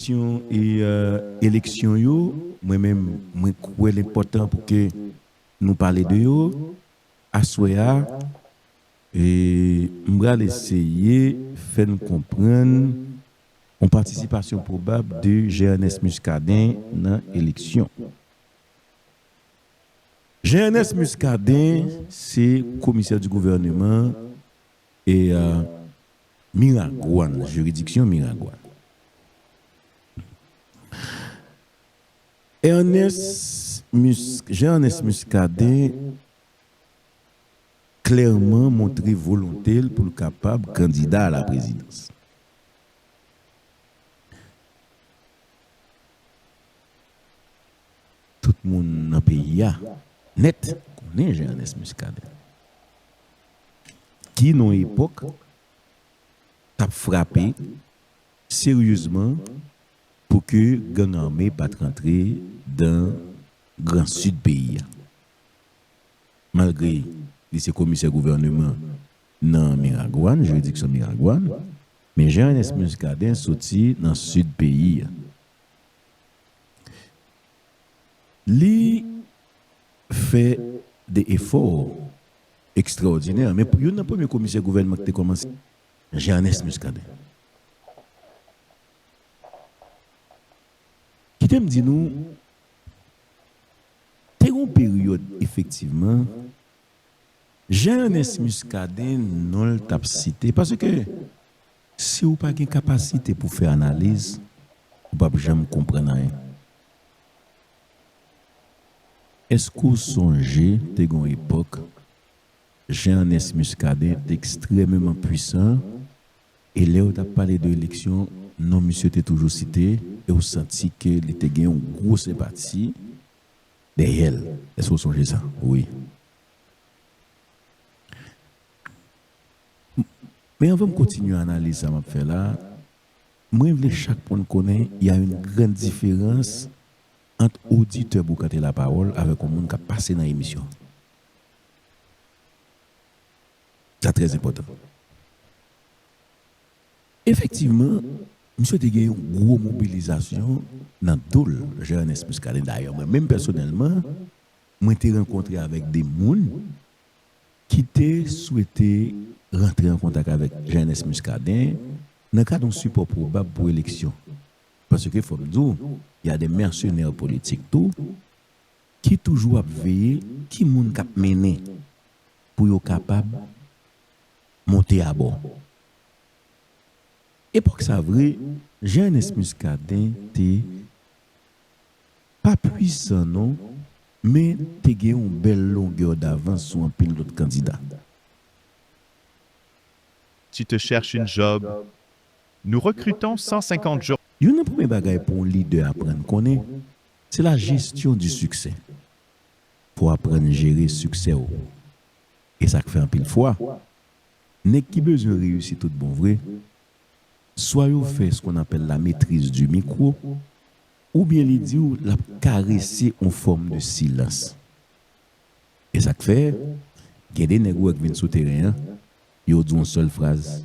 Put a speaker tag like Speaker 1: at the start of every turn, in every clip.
Speaker 1: Kesyon eleksyon yo, mwen menm mwen kwè l enpòtan pou ke nou pale de yo aswè a. M pral eseye fè n konprann yon patisipasyon pwobab de Jean-Ernest Muscadin nan eleksyon. Jean-Ernest Muscadin se komisè di gouvèneman E Miragwàn, jiridiksyon Miragwàn. Ernest, Jean Ernest Muscadin klèman montre volonte l pou l kapab kandida a la prezidans. Tout moun nan peyi a nèt konnen Jean Ernest Muscadin. ki nan epòk k ap frape seryezman pou ke gang ame pa t rantre dan gran sid peyi a. Malgre li se komisè gouvèneman nan Miragwàn, jiridiksyon Miragwàn, men Jean Ernest Muscadin soti nan sid peyi a. Li fè de efò ekstraòdinè, men pou youn nan premye komisè gouvènman ki te kòmanse, Jean Ernest Muscadin. Kite m di nou, te gen yon peryòd efektivman, Jean Ernest Muscadin non l t ap site, paske, Si ou pa gen kapasite pou fè analiz, ou pap janm konprann anyen. Èske ou sonje te gen yon epòk Jean Ernest Muscadin te ekstrèmeman pwisan e lè yo tap pale de eleksyon non misye te toujou site e ou santi ke li te gen yon gwo senpati dèyè l? Èske ou sonje sa? Wi. Men anvan m kontinye analiz sa map fè la, mwen vle chak moun konnen y a une grande différence ant oditè Boukante La Parole avèk yon moun kap pase nan emisyon. Sa trè enpòtan. Efektivman, misye te gen yon gwo mobilizasyon nan do l, Jean Ernest Muscadin. Dayè mwen menm pèsonèlman, mwen te rankontre avèk 2 moun ki te swete rantre an kontak avèk Jean-Ernest Muscadin nan kad yon sipò pwobab pou eleksyon, paske fò m di w, y a des mercenaires politiques tou ki toujou ap veye ki moun k ap mennen pou yo kapab monte abò. Epòk sa vre, Jean-Ernest Muscadin te pa pwisan non men te gen yon bèl longè davans sou anpil lòt kandida.
Speaker 2: Tu te cherche une job? Nous recrutons 150 jo. Youn nan premye bagay
Speaker 1: pou yon lidè aprann konnen, se la gestion du succès. Fò w aprann jere siksè w. E sa k fè anpil fwa, nèg ki bezwen reyisi tout bon vre, Swa yo fè ce qu'on appelle la maîtrise du micro, oubyen li di w l ap karese on fòm de silans. E sa k fè, gen de nèg ou wè k vin sou teren an, yo di w on sèl fraz,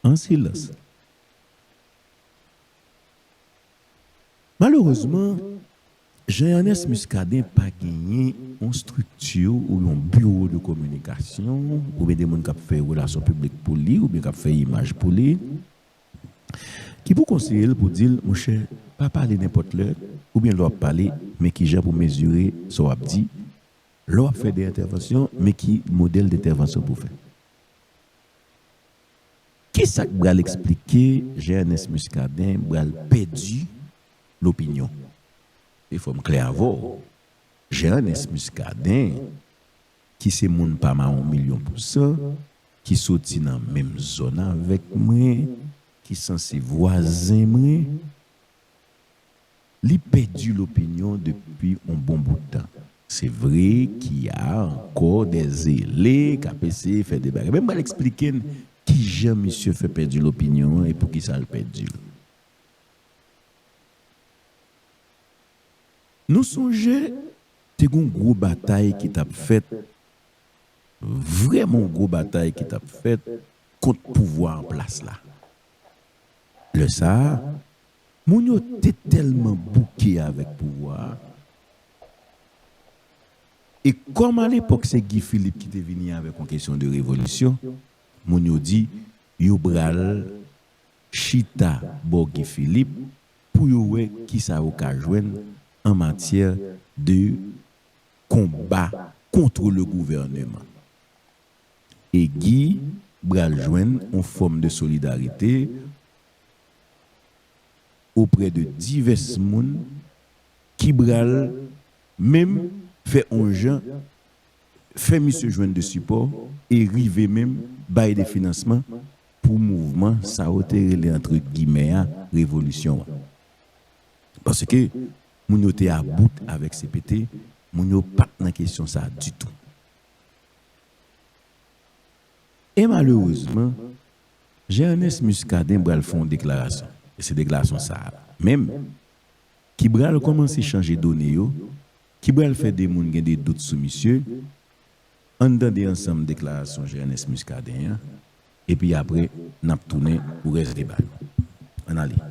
Speaker 1: An silans! Malerezman, Jean Ernest Muscadin pa genyen yon strikti ou yon biwo de kominikasyon oubyen de moun k ap fè relasyon piblik pou li oubyen k ap fè imaj pou li ki pou konseye l pou di l monchè pa pale nenpòt lè oubyen lè w ap pale men kijan pou mezire sa w ap di, lè w ap fè de entèvansyon men ki modèl dentèvansyon pou w fè. Kisa k bral eksplike Jean Ernest Muscadin bral pèdi lopinyon? E fò m klè avè w, Jean Ernest Muscadin ki se moun pa mawon milyon pou san, ki soti nan menm zòn avèk mwen, ki sanse vwazen mwen, Li pèdi lopinyon depi on bon bout tan. Se vre ki a ankò dè zele k ap eseye fè de bagay. Men m pral esplike n ki jan misye fè pèdi lopinyon an e pou ki sa l pèdi l. Nou sonje te gen on gwo batay ki t ap fèt, vrèman on gwo batay ki t ap fèt kont pouvwa an plas la. Lè sa a, moun yo te tèlman bouke avèk pouvwa a, e kòm alepòk se Guy Philippe ki te vini avèk yon kesyon de revolisyon, moun yo di yo pral chita bò Guy Philippe pou yo wè ki sa yo ka jwenn an matyè de konba contre le gouvernement. e Guy bral jwenn on fòm de solidarite oprè de divès moun ki bral menm fè on jan fè misye jwenn de sipò e rive menm bay de finansman pou mouvman sa yo te rele antre gimè a revolisyon an. Paske moun yo te a bout avèk CPT, moun yo pat nan kesyon sa ditou. E malerezman, Jean Ernest Muscadin bral fè yon deklarasyon, e se deklarasyon sa a menm ki bral kòmanse chanje done yo, ki bral fè de moun gen de dout sou misye. An n tande ansanm deklarasyon Jean Ernest Muscadin an, epi apre n ap tounen pou rès deba yo. An n ale.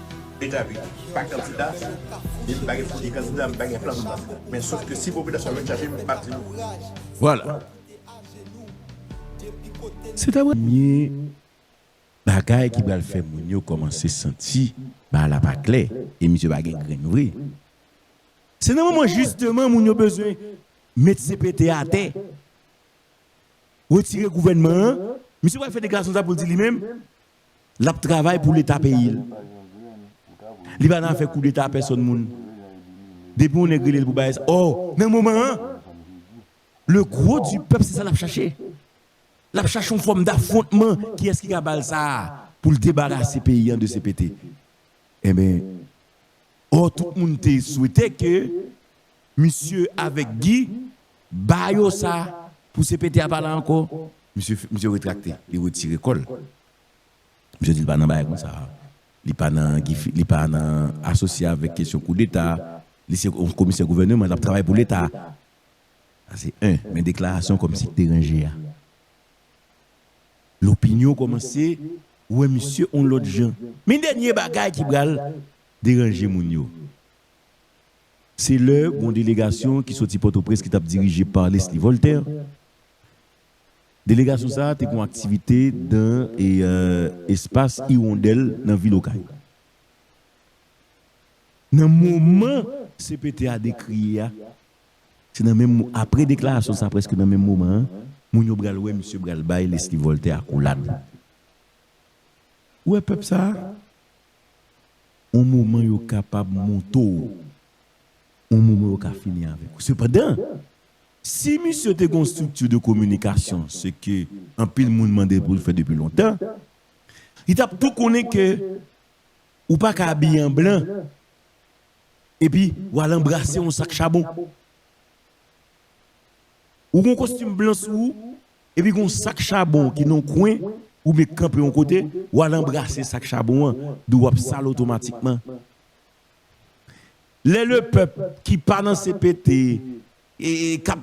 Speaker 3: Etabli pa kandida, e m pa gen figi kandida, m pa gen plan pou kandida. Men sof ke si popilasyon an vin chache m, m ap di nou. Vwala.
Speaker 1: Se ta premye bagay ki pral fè moun yo kòmanse santi bagay la pa klè e misye pa gen grenn vre. Se nan moman jisteman moun yo bezwen met CPT atè, retire gouvènman an, misye pral fè deklarasyon sa pou l di li menm, Lap travay pou leta peyil. Li pa nan afè koudeta a pèsòn moun. Depi yon nèg relel pou bay sa oh nan moman an le gros du pèp se sa lap chache. Lap chache yon fòm dafwontman kiyès ki ka bal sa a poul debarase peyi an de CPT. Enben. Or tout moun te swete ke misye avèk Guy ba yo sa pou CPT a pa la ankò. Misye retrakte, li retire kò l. Misye di li pa nan bagay konsa a. Li pa nan Guy Philippe, li pa nan asosye avèk kesyon koudeta. Li se yon komisè gouvèneman, l ap travay pou leta. Sa se 1. Men deklarasyon kòmsi k te ranje a. Lopinyon kòmanse wè misye on lòt jan. Men dènye bagay ki pral deranje moun yo, se lè gon delegasyon ki soti Pòtoprens ki t ap dirije pa Lesly Voltaire. Delegasyon sa a te gon aktivite dan espas Irondèl nan vil Okay. Nan moman CPT a dekriye a, Se nan menm apre deklarasyon sa prèske nan menm moman an, moun yo bral wè misye bral bay Leslie Voltaire akolad. Ou wè pèp sa a? On moman yo kapab moute w, on moman yo ka fini avèk ou. Sepandan, si misye te gen yon strikti de kominikasyon, se ke anpil moun mande l pou l fè depi lontan, li t ap tou konnen ke ou pa ka abiye an blan. Epi ou al anbrase yon sak chabon. Ou gen yon kostim blan sou ou, epi gen yon sak chabon ki nan yon kwen, ou met kanpe yon kote, ou al anbrase sak chabon an, dou w ap sal otomatikman. Lè lepèp ki pa nan cpt, k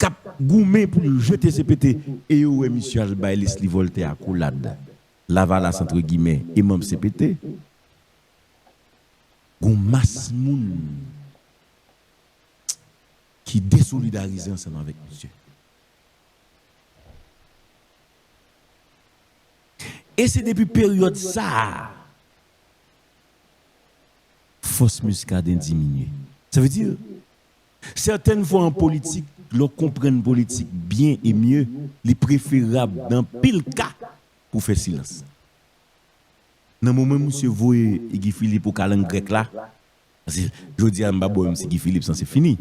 Speaker 1: ap goumen pou yo jete cpt, e yo wè misye al bay Leslie Voltaire akolad, lavalas antre gimè, e manm cpt, Gon mas moun ki desolidarize ansanm avèk misye. E se depi peryòd sa a fòs Muscadin diminye. Sa vle di, sètèn fwa an politik, lè w konprann politik byen e mye, li preferab nan anpil ka pou w fè silans. Nan moman misye voye Guy Philippe ou kalang grèk la, paske jodi a m pa bò menm si Guy Philippe sanse fini.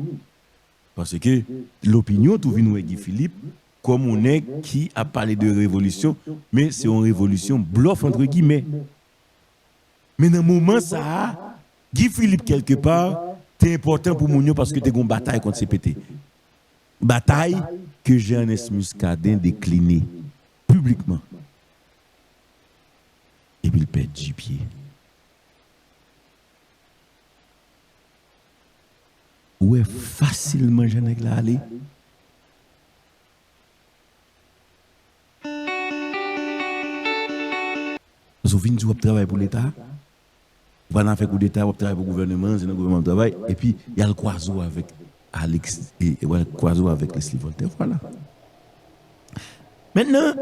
Speaker 1: Paske lopinyon tou vin wè Guy Philippe kòm on nèg ki ap pale de revolisyon, men se on revolisyon blòf antre gimè. Men nan moman sa a, Guy Philippe kèlke pa te enpòtan pou moun yo paske te gon batay kont CPT. Batay ke Jean Ernest Muscadin dekline piblikman. Epi l pèdi pye. Ou wè fasilman jan nèg la ale. Paske w vin di w ap travay pou leta. Ou pa nan afè koudeta wap travay pou gouvèneman an se nan gouvèneman wap travay epi yal kwaze w avèk Alix yal kwaze w avèk Lesly Voltaire vwala mentnan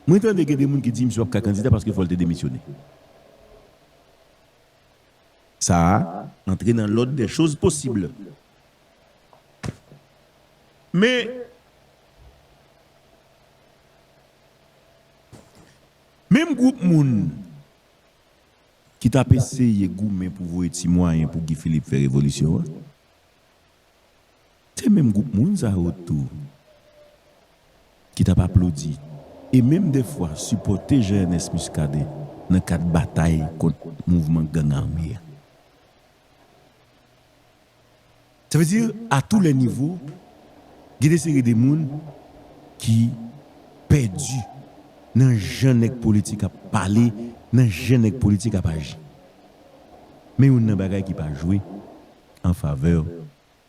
Speaker 1: mwen tande gen de moun ki di misye pap ka kandida paske fòl te demisyone sa a antre nan lòd dè choz posib men. Menm gwoup moun ki t ap eseye goumen pou voye ti mwayen pou Guy Philippe fè revolisyon an, se menm gwoup moun sa yo tou ki t ap aplodi e menm dèfwa sipòte Jean Ernest Muscadin nan kad batay kont mouvman gang ame a. Sa vle di, a tou lè nivo, gen de seri de moun ki pèdi nan jan nèg politik ap pale, nan jan nèg politik ap aji. Men youn nan bagay ki pa jwe an favè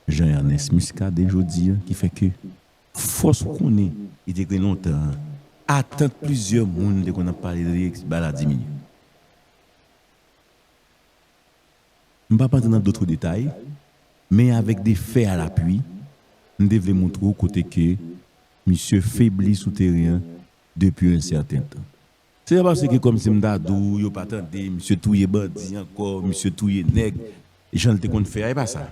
Speaker 1: Jean Ernest Muscadin jodi a ki fè ke fòs ou konnen li te gen lontan an, atant plizyè moun te konn ap pale de li, ba la diminye. M pap antre nan dotre detay, men avèk de fè a lapui, m te vle moutre w kote ke misye febli sou teren an depi un certain tan. Se pa paske kòm si m ta di w yo pa tande, misye touye bandi ankò, misye touye nèg, jan l te konn fè a, e pa sa.